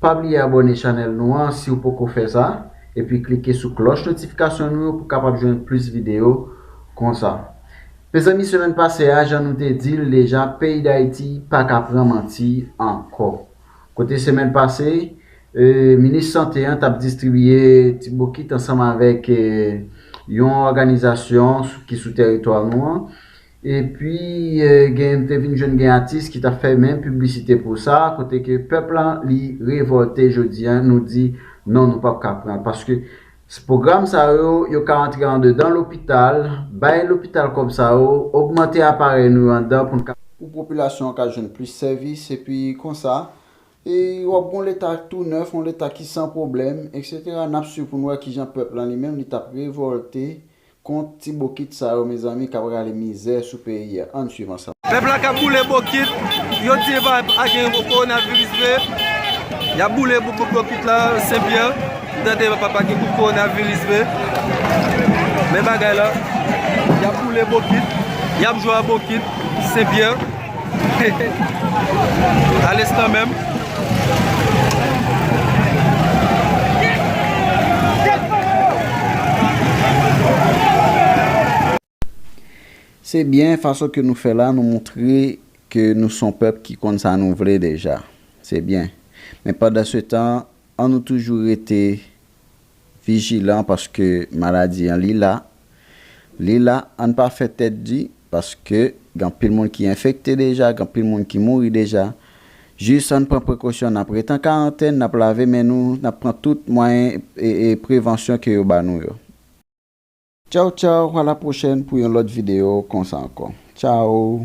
Pa bliye abòne chanèl nou an siw poko fè sa, epi klike sou klòch notifikasyon nou yo pou kapab jwenn plis videyo konsa. Mezanmi semèn pase a jan nou te dil deja peyi dayiti paka pran manti ankò. Kote semèn pase minis sante an tap distribiye ti bokit ansanm avèk yon òganizasyon ki sou teritwa nou an Epi gen m te vin jwenn gen atis ki tap fè menm piblisite pou sa kote ke pèp lan li revòlte jodi an nou di non nou pap ka pran paske pwogram sa yo yo ka antre andedan lopital bay lopital kòb sa yo ogmante aparèy nou yo andan pou n ka pou popilasyon an ka jwenn plis sèvis epi konsa e wap gon leta tou nèf yon leta ki san pwoblèm eksetera nap swiv pou n wè kijan pèp lan li menm li tap revòlte Kont ti bokit sa yo mezanmi kap rale mizè sou peyi a ann swiv ansanm. Pèp la kap boule bokit yo di epa agen coronavirus vre yap boule bokit la sen pyè m tande epa pa gen coronavirus vre men bagay la yap boule bokit yap jwe a bokit sen pyè. Ales nan menm. Se byen fason ke nou fè la nou moutre ke nou son pèp ki konn sa nou vle deja. Se byen. Men pandan se tan an nou toujou rete Vijilan paske maladi an li la Li la ann pa fè tèt di paske gen anpil moun ki enfekte deja gen anpil moun ki mouri deja jis ann pran prekosyon nap ret an karantèn nap lave men nou nap pran tout mwayen prevansyon ke yo ba nou yo. Tchaw tchaw a la pwochèn pou yon lòt video konsa ankò tchaw.